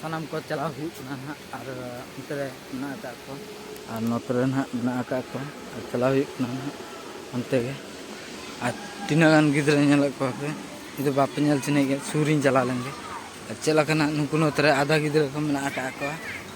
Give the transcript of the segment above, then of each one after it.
ᱥᱟᱱᱟᱢ ᱠᱚ ᱪᱟᱞᱟᱣ ᱦᱩᱭᱩᱜ ᱠᱟᱱᱟ ᱱᱟᱦᱟᱜ ᱟᱨ ᱚᱱᱛᱮ ᱨᱮ ᱢᱮᱱᱟᱜ ᱟᱠᱟᱫ ᱠᱚ ᱟᱨ ᱱᱚᱛᱮ ᱨᱮ ᱱᱟᱦᱟᱜ ᱢᱮᱱᱟᱜ ᱟᱠᱟᱫ ᱠᱚ ᱟᱨ ᱪᱟᱞᱟᱣ ᱦᱩᱭᱩᱜ ᱠᱟᱱᱟ ᱱᱟᱦᱟᱜ ᱚᱱᱛᱮ ᱜᱮ ᱟᱨ ᱛᱤᱱᱟᱹᱜ ᱜᱟᱱ ᱜᱤᱫᱽᱨᱟᱹ ᱧᱮᱞᱮᱫ ᱠᱚᱣᱟ ᱯᱮ ᱡᱩᱫᱤ ᱵᱟᱯᱮ ᱧᱮᱞ ᱪᱤᱱᱦᱟᱹᱭᱮᱫ ᱠᱚᱣᱟ ᱥᱩᱨᱤᱧ ᱪᱟᱞᱟᱣ ᱞᱮᱱᱜᱮ ᱟᱨ ᱪᱮᱫ ᱞᱮᱠᱟᱱᱟᱜ ᱱᱩᱠᱩ ᱱᱚᱛᱮ ᱨᱮ ᱟᱫᱷᱟ ᱜᱤᱫᱽᱨᱟᱹ ᱠᱚ ᱢᱮᱱᱟᱜ ᱟᱠᱟᱫ ᱠᱚᱣᱟ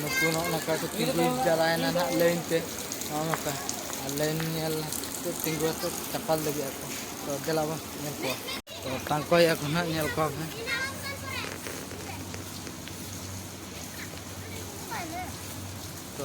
ᱱᱩᱠᱩ ᱱᱚᱜᱼᱚ ᱱᱚᱝᱠᱟ ᱠᱚ ᱛᱤᱸᱜᱩ ᱡᱟᱣᱨᱟᱭᱮᱱᱟ ᱱᱟᱦᱟᱜ ᱞᱟᱹᱭᱤᱱ ᱛᱮ ᱱᱚᱜᱼᱚ ᱱᱚᱝᱠᱟ ᱟᱨ ᱞᱟᱹᱭᱤᱱ ᱧᱮᱞ ᱠᱚ ᱛᱤᱸᱜᱩ ᱟᱛᱮ ᱪᱟᱯᱟᱞ ᱞᱟᱹᱜᱤᱫ ᱟᱠᱚ ᱛᱚ ᱫᱮᱞᱟ ᱵᱚᱱ ᱧᱮᱞ ᱠᱚᱣᱟ ᱛᱚ ᱛᱟᱝᱠᱚᱭᱮᱫᱼᱟ ᱠᱚ ᱱᱟᱦᱟᱜ ᱧᱮᱞ ᱠᱚᱣᱟ ᱯᱮ ᱛᱚ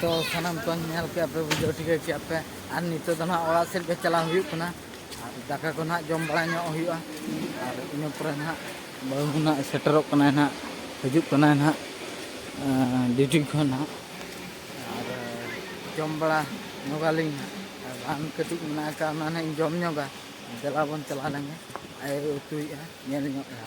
ᱛᱚ ᱥᱟᱱᱟᱢ ᱠᱚ ᱧᱮᱞ ᱠᱮᱫ ᱯᱮ ᱵᱩᱡᱷᱟᱹᱣ ᱴᱷᱤᱠᱟᱹ ᱠᱮᱫ ᱯᱮ ᱟᱨ ᱱᱤᱛᱚᱜ ᱫᱚ ᱱᱟᱦᱟᱜ ᱚᱲᱟᱜ ᱥᱮᱫ ᱜᱮ ᱪᱟᱞᱟᱣ ᱦᱩᱭᱩᱜ ᱠᱟᱱᱟ ᱟᱨ ᱫᱟᱠᱟ ᱠᱚ ᱱᱟᱦᱟᱜ ᱡᱚᱢ ᱵᱟᱲᱟ ᱧᱚᱜ ᱦᱩᱭᱩᱜᱼᱟ ᱟᱨ ᱤᱱᱟᱹ ᱯᱚᱨᱮ ᱱᱟᱦᱟᱜ ᱵᱟᱹᱦᱩ ᱱᱟᱦᱟᱜ ᱥᱮᱴᱮᱨᱚᱜ ᱠᱟᱱᱟᱭ ᱱᱟᱦᱟᱜ ᱦᱤᱡᱩᱜ ᱠᱟᱱᱟᱭ ᱱᱟᱦᱟᱜ ᱰᱤᱭᱩᱴᱤ ᱠᱷᱚᱱ ᱱᱟᱦᱟᱜ ᱟᱨ ᱡᱚᱢ ᱵᱟᱲᱟ ᱧᱚᱜᱟᱞᱤᱧ ᱟᱨ ᱵᱟᱝ ᱠᱟᱹᱴᱤᱡ ᱢᱮᱱᱟᱜ ᱟᱠᱟᱫ ᱚᱱᱟ ᱱᱟᱦᱟᱜ ᱤᱧ ᱡᱚᱢ ᱧᱚᱜᱟ ᱫᱮᱞᱟ ᱵᱚᱱ ᱪᱟᱞᱟᱣ ᱞᱮᱱᱜᱮ ᱟᱭᱳ ᱩᱛᱩᱭᱮᱫᱼᱟ ᱧᱮᱞ ᱧᱚᱜ ᱮᱫᱟ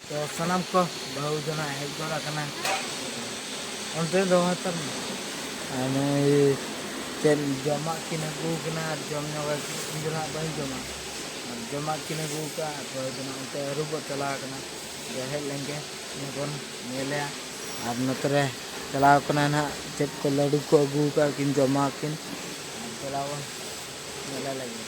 ᱛᱚ ᱥᱟᱱᱟᱢ ᱠᱚ ᱵᱟᱹᱦᱩ ᱡᱚᱱᱟ ᱦᱮᱡ ᱜᱚᱫ ᱟᱠᱟᱱᱟ ᱚᱱᱛᱮ ᱫᱚ ᱦᱟᱛᱟᱢ ᱱᱩᱭ ᱪᱮᱫ ᱡᱚᱢᱟᱜ ᱠᱤᱱ ᱟᱹᱜᱩ ᱠᱟᱱᱟ ᱟᱨ ᱡᱚᱢ ᱧᱚᱜ ᱤᱧ ᱫᱚ ᱱᱟᱜ ᱵᱟᱹᱧ ᱡᱚᱢᱟ ᱟᱨ ᱡᱚᱢᱟᱜ ᱠᱤᱱ ᱟᱹᱜᱩ ᱠᱟᱜᱼᱟ ᱟᱨ ᱵᱟᱹᱦᱩ ᱡᱚᱱᱟ ᱚᱱᱛᱮ ᱟᱹᱨᱩᱵᱚᱜ ᱪᱟᱞᱟᱣ ᱠᱟᱱᱟ ᱟᱫᱚ ᱦᱮᱡ ᱞᱮᱱᱜᱮ ᱤᱱᱟᱹ ᱵᱚᱱ ᱧᱮᱞᱮᱭᱟ ᱟᱨ ᱱᱚᱛᱮ ᱨᱮ ᱪᱟᱞᱟᱣ ᱠᱟᱱᱟ ᱱᱟᱜ ᱪᱮᱫ ᱠᱚ ᱞᱟᱹᱰᱩ ᱠᱚ ᱟᱹᱜᱩ ᱠᱟᱜᱼᱟ ᱠᱤᱱ ᱡᱚᱢᱟ ᱠᱤᱱ ᱟᱨ ᱪᱟᱞᱟᱣ ᱵᱚᱱ ᱧᱮᱞᱮ ᱞᱟᱹᱜᱤᱫ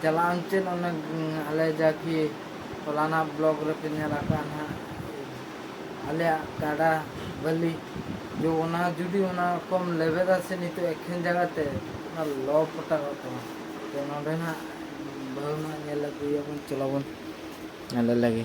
ᱪᱟᱞᱟᱜ ᱟᱢ ᱪᱮᱫ ᱚᱱᱮ ᱟᱞᱮ ᱡᱟ ᱠᱤ ᱯᱷᱚᱞᱟᱱᱟ ᱵᱞᱚᱠ ᱨᱮᱯᱮ ᱧᱮᱞ ᱟᱠᱟᱫᱼᱟ ᱱᱟᱦᱟᱜ ᱟᱞᱮᱭᱟᱜ ᱜᱟᱰᱟ ᱵᱟᱹᱞᱤ ᱡᱮ ᱚᱱᱟ ᱡᱩᱫᱤ ᱚᱱᱟ ᱠᱚᱢ ᱞᱮᱵᱮᱫᱟ ᱥᱮ ᱱᱤᱛᱚᱜ ᱮᱠᱷᱮᱱ ᱡᱟᱸᱜᱟ ᱛᱮ ᱚᱱᱟ ᱞᱚ ᱯᱚᱴᱟᱜᱚᱜ ᱛᱟᱢᱟ ᱛᱚ ᱱᱚᱰᱮ ᱱᱟᱦᱟᱜ ᱵᱟᱹᱦᱩ ᱱᱟᱦᱟᱜ ᱧᱮᱞ ᱟᱹᱜᱩᱭᱮᱭᱟ ᱵᱚᱱ ᱪᱚᱞᱚ ᱵᱚᱱ ᱧᱮᱞᱮ ᱞᱮᱜᱮ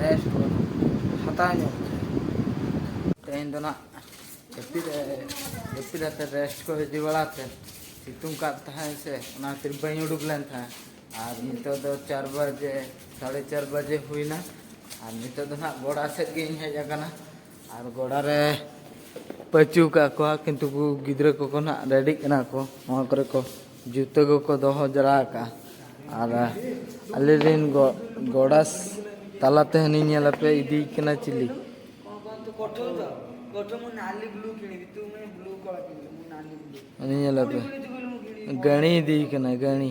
ᱨᱮᱥᱴ ᱵᱟᱹᱱᱩᱜ ᱦᱟᱛᱟᱣ ᱧᱚᱜ ᱛᱮᱦᱮᱧ ᱫᱚ ᱱᱟᱜ ᱡᱟᱹᱯᱤᱫ ᱡᱟᱹᱯᱤᱫ ᱟᱛᱮ ᱨᱮᱥᱴ ᱠᱚ ᱤᱫᱤ ᱵᱟᱲᱟ ᱛᱮ ᱥᱤᱛᱩᱝ ᱠᱟᱜ ᱛᱟᱦᱮᱸᱫ ᱥᱮ ᱚᱱᱟ ᱠᱷᱟᱹᱛᱤᱨ ᱵᱟᱹᱧ ᱩᱰᱩᱠ ᱞᱮᱱ ᱛᱟᱦᱮᱸᱫ ᱟᱨ ᱱᱤᱛᱚᱜ ᱫᱚ ᱪᱟᱨ ᱵᱟᱡᱮ ᱥᱟᱲᱮ ᱪᱟᱨ ᱵᱟᱡᱮ ᱦᱩᱭᱱᱟ ᱟᱨ ᱱᱤᱛᱚᱜ ᱫᱚ ᱱᱟᱜ ᱜᱚᱰᱟ ᱥᱮᱫ ᱜᱤᱧ ᱦᱮᱡ ᱟᱠᱟᱱᱟ ᱟᱨ ᱜᱚᱰᱟ ᱨᱮ ᱯᱟᱹᱪᱩ ᱠᱟᱜ ᱠᱚᱣᱟ ᱠᱤᱱᱛᱩ ᱜᱤᱫᱽᱨᱟᱹ ᱠᱚᱠᱚ ᱱᱟᱜ ᱨᱮᱰᱤᱜ ᱠᱟᱱᱟ ᱠᱚ ᱱᱚᱣᱟ ᱠᱚᱨᱮ ᱠᱚ ᱡᱩᱛᱟᱹ ᱠᱚᱠᱚ ᱫᱚᱦᱚ ᱡᱟᱣᱨᱟ ᱟᱠᱟᱜᱼᱟ ᱟᱨ ᱟᱞᱮ ᱨᱮᱱ ᱜᱚᱰᱟᱥ ᱛᱟᱞᱟ ᱛᱮᱦᱚᱸᱧ ᱧᱮᱞ ᱟᱯᱮ ᱤᱫᱤᱭ ᱠᱟᱱᱟ ᱪᱤᱞᱤ ᱩᱱᱤ ᱧᱮᱞ ᱟᱯᱮ ᱜᱟᱹᱬᱤ ᱤᱫᱤᱭ ᱠᱟᱱᱟ ᱜᱟᱹᱬᱤ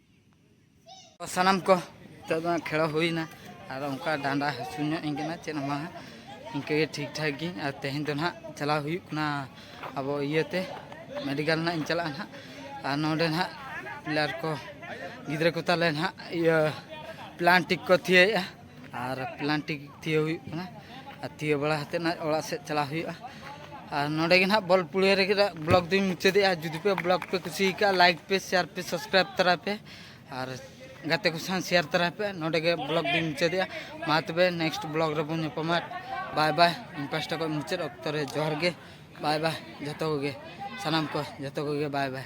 ᱥᱟᱱᱟᱢ ᱠᱚ ᱱᱤᱛᱚᱜ ᱫᱚ ᱠᱷᱮᱲᱚ ᱦᱩᱭᱱᱟ ᱟᱫᱚ ᱚᱱᱠᱟ ᱰᱟᱸᱰᱟ ᱦᱟᱹᱥᱩ ᱧᱚᱜ ᱤᱧ ᱠᱟᱱᱟ ᱪᱮᱫ ᱦᱚᱸ ᱵᱟᱝ ᱤᱱᱠᱟᱹ ᱜᱮ ᱴᱷᱤᱠ ᱴᱷᱟᱠ ᱜᱤᱧ ᱟᱨ ᱛᱮᱦᱮᱧ ᱫᱚ ᱱᱟᱦᱟᱜ ᱪᱟᱞᱟᱣ ᱦᱩᱭᱩᱜ ᱠᱟᱱᱟ ᱟᱵᱚ ᱤᱭᱟᱹᱛᱮ ᱢᱮᱰᱤᱠᱮᱞ ᱱᱟᱦᱟᱜ ᱤᱧ ᱪᱟᱞᱟᱜᱼᱟ ᱱᱟᱦᱟᱜ ᱟᱨ ᱱᱚᱰᱮ ᱱᱟᱦᱟᱜ ᱯᱤᱞᱟᱨ ᱠᱚ ᱜᱤᱫᱽᱨᱟᱹ ᱠᱚ ᱛᱟᱞᱮ ᱱᱟᱦᱟᱜ ᱤᱭᱟᱹ ᱯᱞᱟᱱᱴᱤᱠ ᱠᱚ ᱛᱷᱤᱭᱟᱹᱭᱮᱜᱼᱟ ᱟᱨ ᱯᱞᱟᱱᱴᱤᱠ ᱛᱤᱭᱳ ᱦᱩᱭᱩᱜ ᱠᱟᱱᱟ ᱟᱨ ᱛᱤᱭᱳ ᱵᱟᱲᱟ ᱠᱟᱛᱮᱫ ᱱᱟᱦᱟᱜ ᱚᱲᱟᱜ ᱥᱮᱫ ᱪᱟᱞᱟᱣ ᱦᱩᱭᱩᱜᱼᱟ ᱟᱨ ᱱᱚᱰᱮ ᱜᱮ ᱱᱟᱦᱟᱜ ᱵᱚᱞ ᱯᱩᱲᱤᱭᱟᱹ ᱨᱮᱜᱮ ᱱᱟᱦᱟᱜ ᱵᱞᱚᱜᱽ ᱫᱚᱧ ᱢᱩᱪᱟᱹᱫᱮᱜᱼᱟ ᱡᱩᱫᱤ ᱯᱮ ᱵᱞᱚᱜᱽ ᱯᱮ ᱠᱩᱥᱤ ᱟᱠᱟᱫᱼᱟ ᱞᱟᱭᱤᱠ ᱯᱮ ᱥᱮᱭᱟᱨ ᱯᱮ ᱥᱟᱵᱥᱠᱨᱟᱭᱤᱵᱽ ᱛᱚᱨᱟᱭ ᱯᱮ ᱟᱨ ᱜᱟᱛᱮ ᱠᱚ ᱥᱟᱶ ᱥᱮᱭᱟᱨ ᱛᱚᱨᱟᱭ ᱯᱮ ᱱᱚᱰᱮ ᱜᱮ ᱵᱞᱚᱜᱽ ᱫᱚᱧ ᱢᱩᱪᱟᱹᱫᱮᱜᱼᱟ ᱢᱟ ᱛᱚᱵᱮ ᱱᱮᱠᱥᱴ ᱵᱞᱚᱜᱽ ᱨᱮᱵᱚᱱ ᱧᱟᱯᱟᱢᱟ ᱵᱟᱭ ᱵᱟᱭ ᱤᱧ ᱯᱟᱥᱴᱟ ᱠᱷᱚᱱ ᱢᱩᱪᱟᱹᱫ ᱚᱠᱛᱚ ᱨᱮ ᱡᱚᱦᱟᱨ ᱜᱮ ᱵᱟᱭ ᱵᱟᱭ ᱡᱚᱛᱚ ᱠᱚᱜᱮ ᱥᱟᱱᱟᱢ ᱠᱚ ᱡᱚᱛᱚ ᱠᱚᱜᱮ ᱵᱟᱭ ᱵᱟᱭ